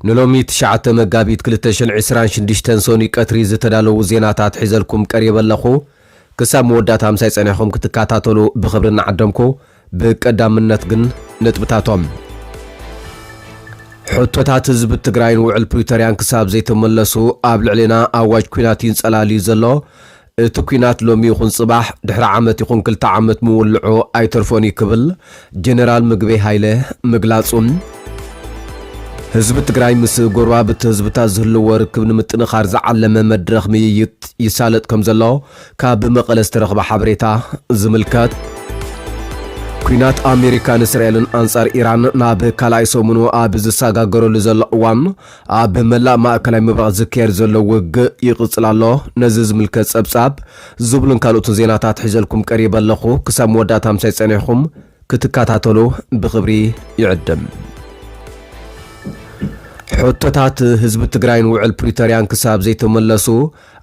ንሎሚ ትሽዓተ መጋቢት ክልተ ሽሕን ዕስራን ሽዱሽተን ሰኑይ ቀትሪ ዝተዳለዉ ዜናታት ሒዘልኩም ቀሪበ ኣለኹ። ክሳብ መወዳእታ ምሳይ ጸኒሕኩም ክትከታተሉ ብኽብሪ እናዓደምኩ፣ ብቀዳምነት ግን ነጥብታቶም። ሕቶታት ህዝቢ ትግራይን ውዕል ፕሪቶርያን ክሳብ ዘይተመለሱ ኣብ ልዕሌና ኣዋጅ ኲናት ይንጸላል'ዩ ዘሎ። እቲ ኲናት ሎሚ ይኹን ጽባሕ፣ ድሕሪ ዓመት ይኹን ክልተ ዓመት ምውልዑ ኣይተርፎን እዩ ክብል ጀነራል ምግበይ ሃይለ ምግላጹ፣ ህዝቢ ትግራይ ምስ ጎረባብቲ ህዝብታት ዝህልዎ ርክብ ንምጥንኻር ዝዓለመ መድረኽ ምይይጥ ይሳለጥ ከምዘሎ ካብ መቐለ ዝተረኽበ ሓበሬታ ዝምልከት። ኲናት ኣሜሪካን እስራኤልን ኣንጻር ኢራን ናብ ካልኣይ ሰሙኑ ኣብ ዝሰጋገረሉ ዘሎ እዋን፣ ኣብ መላእ ማእከላይ ምብራቕ ዝካየድ ዘሎ ውግእ ይቕጽል ኣሎ፣ ነዚ ዝምልከት ጸብጻብ ዝብሉን ካልኦትን ዜናታት ሒዘልኩም ቀሪበ ኣለኹ፣ ክሳብ መወዳእታ ምሳይ ጸኒሕኩም ክትከታተሉ ብኽብሪ ይዕድም። ሕቶታት ህዝቢ ትግራይን ውዕል ፕሪቶርያን ክሳብ ዘይተመለሱ፣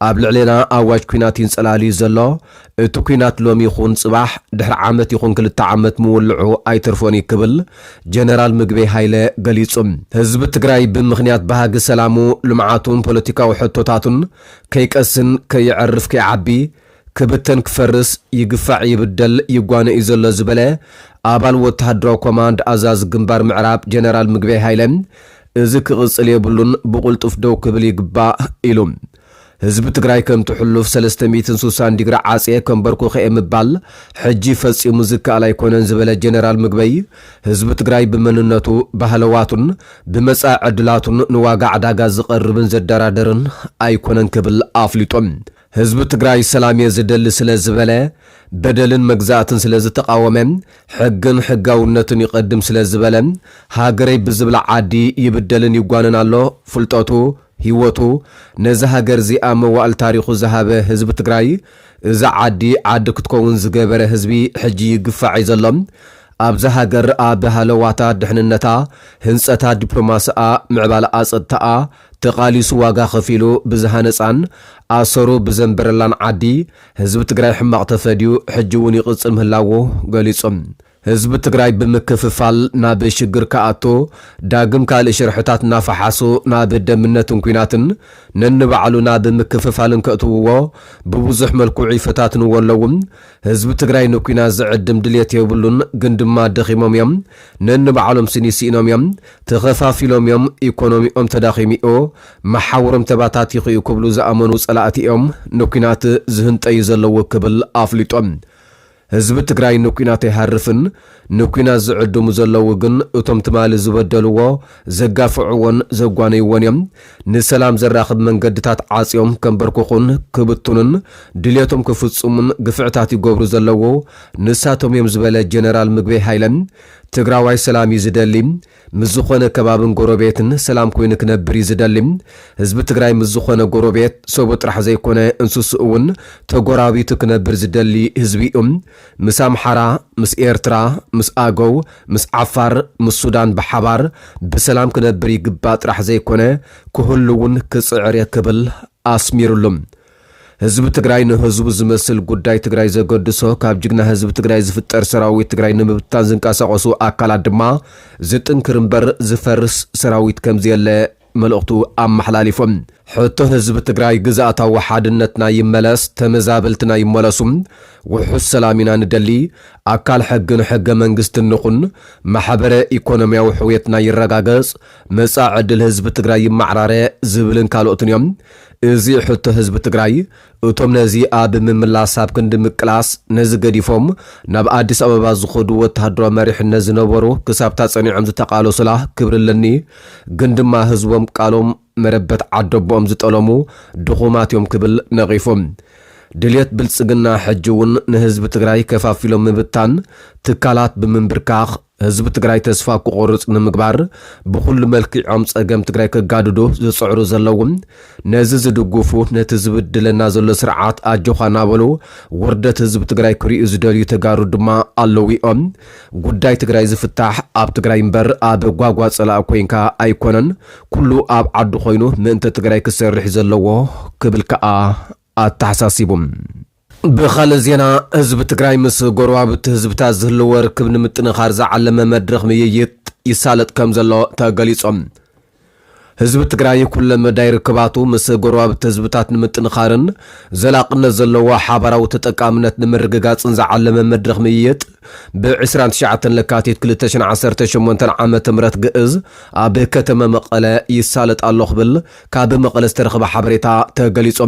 ኣብ ልዕሌና ኣዋጅ ኲናት ይንጸላል'ዩ ዘሎ። እቲ ኲናት ሎሚ ይኹን ጽባሕ፣ ድሕሪ ዓመት ይኹን ክልተ ዓመት ምውልዑ ኣይተርፎን'ዩ ክብል ጀነራል ምግበይ ሃይለ ገሊጹ። ህዝቢ ትግራይ ብምኽንያት ባህጊ ሰላሙ፣ ልምዓቱን ፖለቲካዊ ሕቶታቱን ከይቀስን፣ ከየዕርፍ፣ ከይዓቢ፣ ክብተን ክፈርስ ይግፋዕ ይብደል ይጓነ እዩ ዘሎ ዝበለ ኣባል ወተሃደራዊ ኮማንድ ኣዛዚ ግንባር ምዕራብ ጀነራል ምግበይ ሃይለ እዚ ክቕፅል የብሉን ብቑልጡፍ ደው ክብል ይግባእ ኢሉ። ህዝቢ ትግራይ ከምቲ ሕሉፍ ሰለስተ ሚእትን ስሳን ዲግሪ ዓፅየ ከምበርኩኸ'የ ምባል ሕጂ ፈፂሙ ዝከኣል ኣይኮነን ዝበለ ጀነራል ምግበይ ህዝቢ ትግራይ ብመንነቱ፣ ባህለዋቱን ብመፃኢ ዕድላቱን ንዋጋ ዕዳጋ ዝቐርብን ዘደራደርን ኣይኮነን ክብል ኣፍሊጡ። ህዝቢ ትግራይ ሰላምየ ዝደሊ ስለ ዝበለ፣ በደልን መግዛእትን ስለ ዝተቓወመ፣ ሕግን ሕጋውነትን ይቐድም ስለ ዝበለ፣ ሃገረይ ብዝብላ ዓዲ ይብደልን ይጓነን ኣሎ፣ ፍልጠቱ፣ ሂወቱ፣ ነዚ ሃገርዚኣ መዋእል ታሪኹ ዝሃበ ህዝቢ ትግራይ፣ እዛ ዓዲ ዓዲ ክትከውን ዝገበረ ህዝቢ ሕጂ ይግፋዕ እዩ ዘሎ፣ ኣብዛ ሃገር ኣብ ሃለዋታ፣ ድሕንነታ፣ ህንጸታ፣ ዲፕሎማስኣ፣ ምዕባለኣ፣ ጸጥታኣ፣ ተቓሊሱ ዋጋ ከፊሉ ብዝሃነጻን ኣሰሩ ብዘንበረላን ዓዲ ህዝቢ ትግራይ ሕማቕ ተፈድዩ ሕጂ እውን ይቕጽል ምህላዉ ገሊጹ። ህዝቢ ትግራይ ብምክፍፋል ናብ ሽግር ክኣቱ ዳግም ካልእ ሽርሕታት እናፈሓሱ ናብ ደምነትን ኲናትን ነንባዕሉ ናብ ምክፍፋልን ከእትውዎ ብብዙሕ መልክዑ ይፈታትንዎ ኣለዉ። ህዝቢ ትግራይ ንኲናት ዝዕድም ድልየት የብሉን ግን ድማ ደኺሞም እዮም። ነንባዕሎም ስኒ ስኢኖም እዮም። ተኸፋፊሎም'ዮም፣ ኢኮኖሚኦም ተዳኺሙ'ዩ፣ መሓውሮም ተባታቲኹ'ዩ ክብሉ ዝኣመኑ ፀላእቲ'ዮም ንኲናት ዝህንጠዩ ዘለዉ ክብል ኣፍሊጡ። ህዝቢ ትግራይ ንኲናት ኣይሃርፍን፣ ንኲናት ዝዕድሙ ዘለዉ ግን እቶም ትማሊ ዝበደልዎ፣ ዘጋፍዕዎን ዘጓነይዎን'ዮም። ንሰላም ዘራኽብ መንገድታት ዓፅዮም ከምበርክኹን ክብትኑን ድልየቶም ክፍፅሙን ግፍዕታት ይገብሩ ዘለዉ ንሳቶም'ዮም ዝበለ ጀነራል ምግበይ ሃይለ፣ ትግራዋይ ሰላም እዩ ዝደሊ። ምስ ዝኾነ ከባብን ጎረቤትን ሰላም ኮይኑ ክነብር እዩ ዝደሊ። ህዝቢ ትግራይ ምስ ዝኾነ ጎረቤት፣ ሰቡ ጥራሕ ዘይኮነ እንስስኡ እውን ተጎራቢቱ ክነብር ዝደሊ ህዝቢ እዩ። ምስ ኣምሓራ፣ ምስ ኤርትራ፣ ምስ ኣገው፣ ምስ ዓፋር፣ ምስ ሱዳን ብሓባር ብሰላም ክነብር ይግባእ ጥራሕ ዘይኮነ ክህሉ እውን ክፅዕር እየ ክብል ኣስሚሩሉ። ህዝቢ ትግራይ ንህዝቡ ዝመስል ጉዳይ ትግራይ ዘገድሶ ካብ ጅግና ህዝቢ ትግራይ ዝፍጠር ሰራዊት ትግራይ ንምብታን ዝንቀሳቀሱ ኣካላት ድማ ዝጥንክር እምበር ዝፈርስ ሰራዊት ከምዘየለ መልእኽቱ ኣመሓላሊፉ። ሕቶ ህዝቢ ትግራይ ግዝኣታዊ ሓድነትና ይመለስ፣ ተመዛበልትና ይመለሱ፣ ውሑስ ሰላም ኢና ንደሊ፣ ኣካል ሕግን ሕገ መንግስትን ንኹን፣ ማሕበረ ኢኮኖሚያዊ ሕውየትና ይረጋገፅ፣ መፃኢ ዕድል ህዝቢ ትግራይ ይማዕራረ ዝብልን ካልኦትን እዮም። እዚ ሕቶ ህዝቢ ትግራይ እቶም ነዚ ኣብ ምምላስ ኣብ ክንዲ ምቅላስ ነዚ ገዲፎም ናብ ኣዲስ ኣበባ ዝኸዱ ወተሃደራዊ መሪሕነት ዝነበሩ ክሳብታ ጸኒዖም ዝተቓለሱላ ክብሪ ኣለኒ ግን ድማ ህዝቦም ቃሎም መረበት ዓደቦኦም ዝጠለሙ ድኹማት እዮም ክብል ነቒፉ። ድልየት ብልጽግና ሕጂ እውን ንህዝቢ ትግራይ ከፋፊሎም ምብታን፣ ትካላት ብምንብርካኽ፣ ህዝቢ ትግራይ ተስፋ ክቖርፅ ንምግባር ብኹሉ መልኪዖም ፀገም ትግራይ ከጋድዱ ዝፅዕሩ ዘለዉ ነዚ ዝድግፉ ነቲ ዝብድለና ዘሎ ስርዓት ኣጆኻ ናበሉ ውርደት ህዝቢ ትግራይ ክሪኡ ዝደልዩ ተጋሩ ድማ ኣለዉ ዮም። ጉዳይ ትግራይ ዝፍታሕ ኣብ ትግራይ ምበር ኣብ ጓጓ ፀላኢ ኮይንካ ኣይኮነን ኩሉ ኣብ ዓዱ ኮይኑ ምእንተ ትግራይ ክሰርሕ ዘለዎ ክብል ከዓ ኣተሓሳሲቡ። ብኻልእ ዜና ህዝቢ ትግራይ ምስ ጎረባብቲ ህዝብታት ዝህልዎ ርክብ ንምጥንኻር ዝዓለመ መድረኽ ምይይጥ ይሳለጥ ከምዘሎ ተገሊፁ። ህዝቢ ትግራይ ኩለ መዳይ ርክባቱ ምስ ጎረባብቲ ህዝብታት ንምጥንኻርን ዘላቕነት ዘለዎ ሓባራዊ ተጠቃምነት ንምርግጋፅን ዝዓለመ መድረኽ ምይይጥ ብ ዕስራን ትሽዓተን ለካቲት ክልተ ሽሕን ዓሰርተ ሸሞንተን ዓመተ ምህረት ግእዝ ኣብ ከተመ መቐለ ይሳለጥ ኣሎ ክብል ካብ መቐለ ዝተረኸበ ሓበሬታ ተገሊፁ።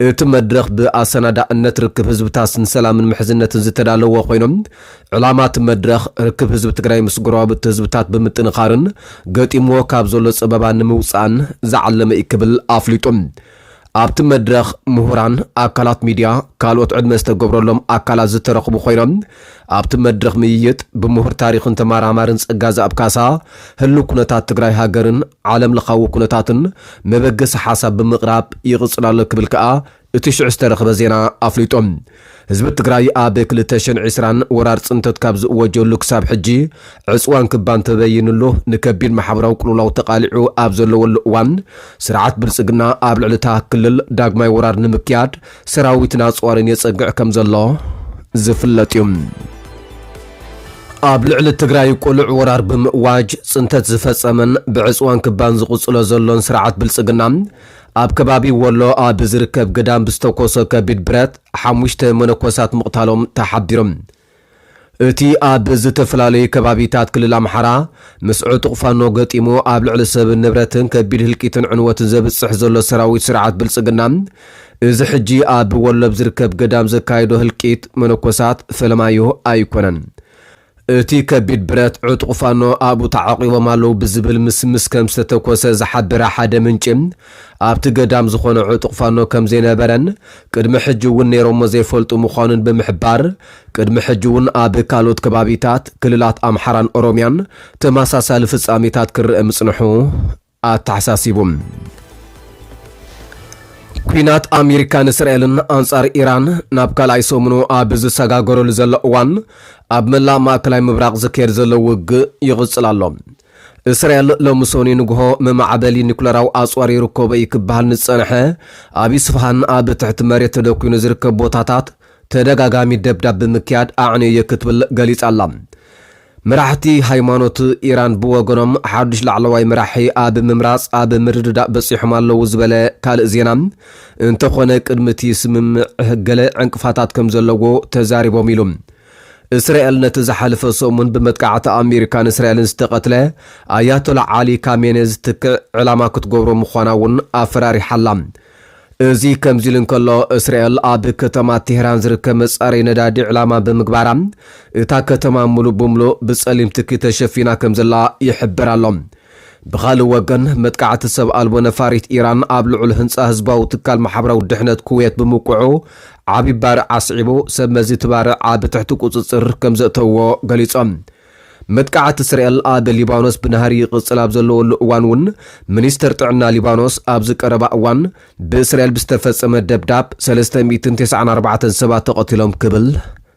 እቲ መድረኽ ብኣሰናዳእነት ርክብ ህዝብታት ንሰላምን ምሕዝነትን ዝተዳለወ ኮይኑ፣ ዕላማ እቲ መድረኽ ርክብ ህዝቢ ትግራይ ምስ ጎረባብቲ ህዝብታት ብምጥንኻርን ገጢምዎ ካብ ዘሎ ፀበባ ንምውፃእን ዝዓለመ ኢዩ ክብል ኣፍሊጡ። ኣብቲ መድረኽ ምሁራን፣ ኣካላት ሚዲያ፣ ካልኦት ዕድመ ዝተገብረሎም ኣካላት ዝተረኽቡ ኮይኖም፣ ኣብቲ መድረኽ ምይይጥ፣ ብምሁር ታሪኽን ተመራማርን ጸጋዝኣብ ካሳ፣ ህሉው ኩነታት ትግራይ ሃገርን ዓለም ለኻዊ ኩነታትን መበገሲ ሓሳብ ብምቕራብ ይቕጽል ኣሎ ክብል ከኣ እቲ ሽዑ ዝተረኽበ ዜና ኣፍሊጡ። ህዝቢ ትግራይ ኣብ ክልተ ሽሕን ዕስራን ወራር ጽንተት ካብ ዝእወጀሉ ክሳብ ሕጂ ዕጽዋን ክባን ተበይንሉ ንከቢድ ማሕበራዊ ቅልውላው ተቓሊዑ ኣብ ዘለወሉ እዋን ስርዓት ብልጽግና ኣብ ልዕሊ እታ ክልል ዳግማይ ወራር ንምክያድ ሰራዊትን ኣጽዋርን የጸግዕ ከም ዘሎ ዝፍለጥ እዩ። ኣብ ልዕሊ ትግራይ ቁሉዕ ወራር ብምእዋጅ ጽንተት ዝፈጸመን ብዕጽዋን ክባን ዝቕጽሎ ዘሎን ስርዓት ብልጽግና፣ ኣብ ከባቢ ወሎ ኣብ ዝርከብ ግዳም ብዝተኮሶ ከቢድ ብረት ሓሙሽተ መነኮሳት ምቕታሎም ተሓቢሩ። እቲ ኣብ ዝተፈላለዩ ከባቢታት ክልል ኣምሓራ ምስ ዕጡቕ ፋኖ ገጢሙ ኣብ ልዕሊ ሰብን ንብረትን ከቢድ ህልቂትን ዕንወትን ዘብጽሕ ዘሎ ሰራዊት ስርዓት ብልጽግና፣ እዚ ሕጂ ኣብ ወሎ ኣብ ዝርከብ ገዳም ዘካይዶ ህልቂት መነኮሳት ፈለማዩ ኣይኮነን። እቲ ከቢድ ብረት ዕጡቕ ፋኖ ኣብኡ ተዓቚቦም ኣለዉ ብዝብል ምስምስ ከም ዝተተኮሰ ዝሓበረ ሓደ ምንጪ፣ ኣብቲ ገዳም ዝኾነ ዕጡቕ ፋኖ ከም ዘይነበረን ቅድሚ ሕጂ እውን ነይሮሞ ዘይፈልጡ ምዃኑን ብምሕባር፣ ቅድሚ ሕጂ እውን ኣብ ካልኦት ከባቢታት ክልላት ኣምሓራን ኦሮሚያን ተመሳሳሊ ፍጻሜታት ክረኣ ምጽንሑ ኣተሓሳሲቡ። ኲናት ኣሜሪካን እስራኤልን ኣንጻር ኢራን ናብ ካልኣይ ሰሙኑ ኣብ ዝሰጋገረሉ ዘሎ እዋን፣ ኣብ መላእ ማእከላይ ምብራቕ ዝካየድ ዘሎ ውግእ ይቕጽል ኣሎ። እስራኤል ሎሚ ሰኑይ ንግሆ መማዕበሊ ኒኩለራዊ ኣጽዋር ይርከቦ እዩ ክበሃል ንዝጸንሐ ኣብ ኢስፋሃን ኣብ ትሕቲ መሬት ተደኲኑ ዝርከብ ቦታታት ተደጋጋሚ ደብዳብ ብምክያድ ኣዕንየዮ ክትብል ገሊጻ ኣላ። መራሕቲ ሃይማኖት ኢራን ብወገኖም ሓዱሽ ላዕለዋይ መራሒ ኣብ ምምራጽ ኣብ ምርድዳእ በጺሖም ኣለዉ ዝበለ ካልእ ዜና እንተኾነ ቅድሚ እቲ ስምምዕ ገለ ዕንቅፋታት ከምዘለዎ ተዛሪቦም ኢሉ። እስራኤል ነቲ ዝሓለፈ ሰሙን ብመጥቃዕቲ ኣሜሪካን እስራኤልን ዝተቐትለ ኣያቶላ ዓሊ ካሜኔ ዝትክእ ዕላማ ክትገብሮ ምዃና'ውን ኣፈራሪሓ ኣላ። እዚ ከምዚ'ሉ እንከሎ፣ እስራኤል ኣብ ከተማ ቴህራን ዝርከብ መጻረዪ ነዳዲ ዕላማ ብምግባራ፣ እታ ከተማ ምሉእ ብምሉእ ብጸሊም ትኪ ተሸፊና ከምዘላ ይሕበር ኣሎ። ብኻልእ ወገን፣ መጥቃዕቲ ሰብ ኣልቦ ነፋሪት ኢራን ኣብ ልዑል ህንጻ ህዝባዊ ትካል ማሕበራዊ ድሕነት ኩዌት ብምውቅዑ ዓቢ ባርዕ ኣስዒቡ፣ ሰብ መዚ እቲ ባርዕ ኣብ ትሕቲ ቁጽጽር ከም ዘእተውዎ ገሊጾም። መጥቃዕቲ እስራኤል ኣብ ሊባኖስ ብናህሪ ይቕጽል ኣብ ዘለወሉ እዋን'ውን፣ ሚኒስተር ጥዕና ሊባኖስ ኣብዚ ቀረባ እዋን ብእስራኤል ብዝተፈጸመ ደብዳብ ሰለስተ ሚእትን ተስዓን ኣርባዕተን ሰባት ተቐቲሎም ክብል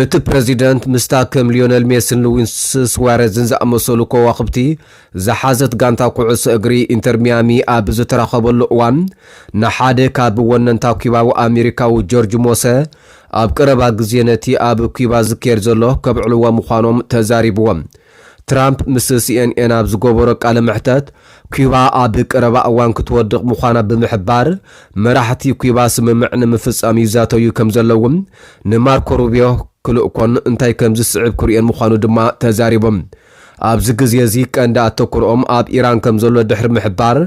እቲ ፕረዚደንት ምስታ ከም ሊዮነል ሜስን ሉዊስ ስዋረዝን ዝኣመሰሉ ከዋኽብቲ ዝሓዘት ጋንታ ኩዕሶ እግሪ ኢንተር ሚያሚ ኣብ ዝተራኸበሉ እዋን ንሓደ ካብ ወነንታ ኲባዊ ኣሜሪካዊ ጆርጅ ሞሰ ኣብ ቀረባ ግዜ ነቲ ኣብ ኲባ ዝካየድ ዘሎ ከብዕልዎ ምዃኖም ተዛሪብዎም ትራምፕ ምስ ሲኤንኤን ኣብ ዝገበሮ ቃለ መሕተት፣ ኲባ ኣብ ቀረባ እዋን ክትወድቕ ምዃና ብምሕባር፣ መራሕቲ ኲባ ስምምዕ ንምፍጻም ይዛተዩ ከም ዘለዉን ንማርኮ ሩብዮ ክልእኮን እንታይ ከም ዝስዕብ ክርእዮን ምዃኑ ድማ ተዛሪቡ። ኣብዚ ግዜ'ዚ ቀንዲ ኣተኩሮኦም ኣብ ኢራን ከም ዘሎ ድሕሪ ምሕባር፣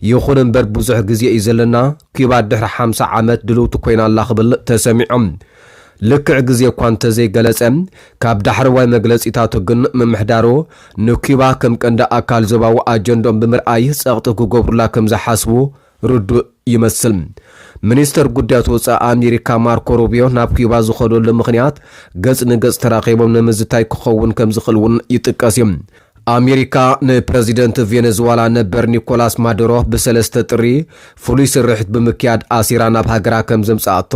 ይኹን እምበር ብዙሕ ግዜ እዩ ዘለና፣ ኲባ ድሕሪ ሓምሳ ዓመት ድልውቲ ኰይና ኣላ ክብል ተሰሚዑ። ልክዕ ግዜ እኳ እንተዘይገለጸ፣ ካብ ዳሕረዋይ መግለጺታቱ ግን ምምሕዳሩ ንኲባ ከም ቀንዲ ኣካል ዞባዊ ኣጀንድኦም ብምርኣይ ጸቕጢ ክገብሩላ ከም ዝሓስቡ ርዱእ ይመስል። ሚኒስተር ጉዳያት ወጻኢ ኣሜሪካ ማርኮ ሩቢዮ ናብ ኲባ ዝኸደሉ ምኽንያት ገጽ ንገጽ ተራኺቦም ንምዝታይ ክኸውን ከም ዝኽእል'ውን ይጥቀስ'ዩ። ኣሜሪካ ንፕረዚደንት ቬነዝዋላ ነበር ኒኮላስ ማዱሮ ብሰለስተ ጥሪ ፍሉይ ስርሒት ብምክያድ ኣሲራ ናብ ሃገራ ከም ዘምጽኣቶ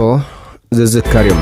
ዝዝከር እዩ።